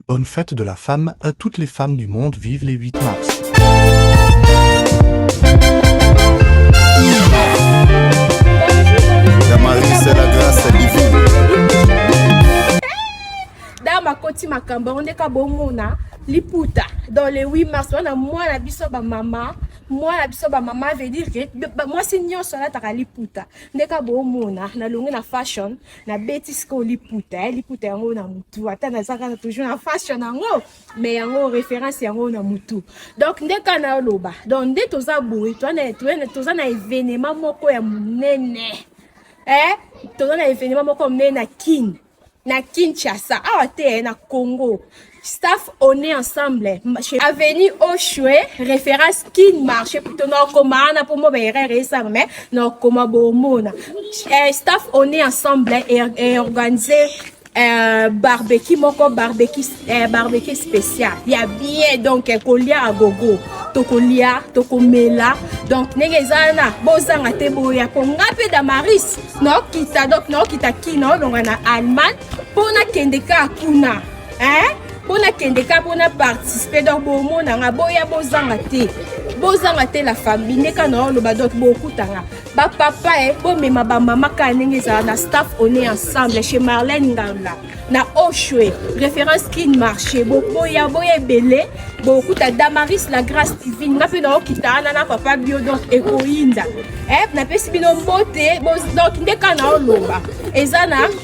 Bonne fete de la femme à toutes les femmes du monde vive les 8 mars. Dama koti makamba on ka bomona liputa dans les 8 mars wana mwana biso ba mama mwana biso ba mama veut dire que mwasi nyonso alataka liputa ndeka bomona nalongi na fashion nabeti sikoyo liputa eh, liputa yango na mutu ata naza kaka toujours na fashion yango mais yango référence yango na mutu donc nde kaka naloba donc nde toza boye toza na événement moko ya monene eh? toza na événement moko monene na kine na kinshasa awa te eh, na congo staff on est ensemble avenue oshwe référence kin marché plutôt nakoma wana mpo mo baerreur esama mais nakoma bomona eh, staff on est ensemble et eh, organisé Euh, barbecue moko barbecue euh, barbecue spécial ya bien donc eh, kolia ya gogo tokolia tokomela donc ndenge eza wana bozanga te boya mpo nga mpe damaris naokita donc naokita kino olonga na allemagne mpo nakende kaka kuna hein mpo nakende ka mpo na participe donc bomona nga boya bozanga te bozanga te la famille nde ka na oloba donc bokutanga bapapa e eh, bomema bamama kaka ndenge ezala na staff on est ensemble chez marlène nganga na oshwe référence kin marché boboya boya ebele bokuta damaris la grâce divine nga mpe naokita wana na papa bio donc ekoyinda eh, napesi bino mbote donc nde ka na oloba eza na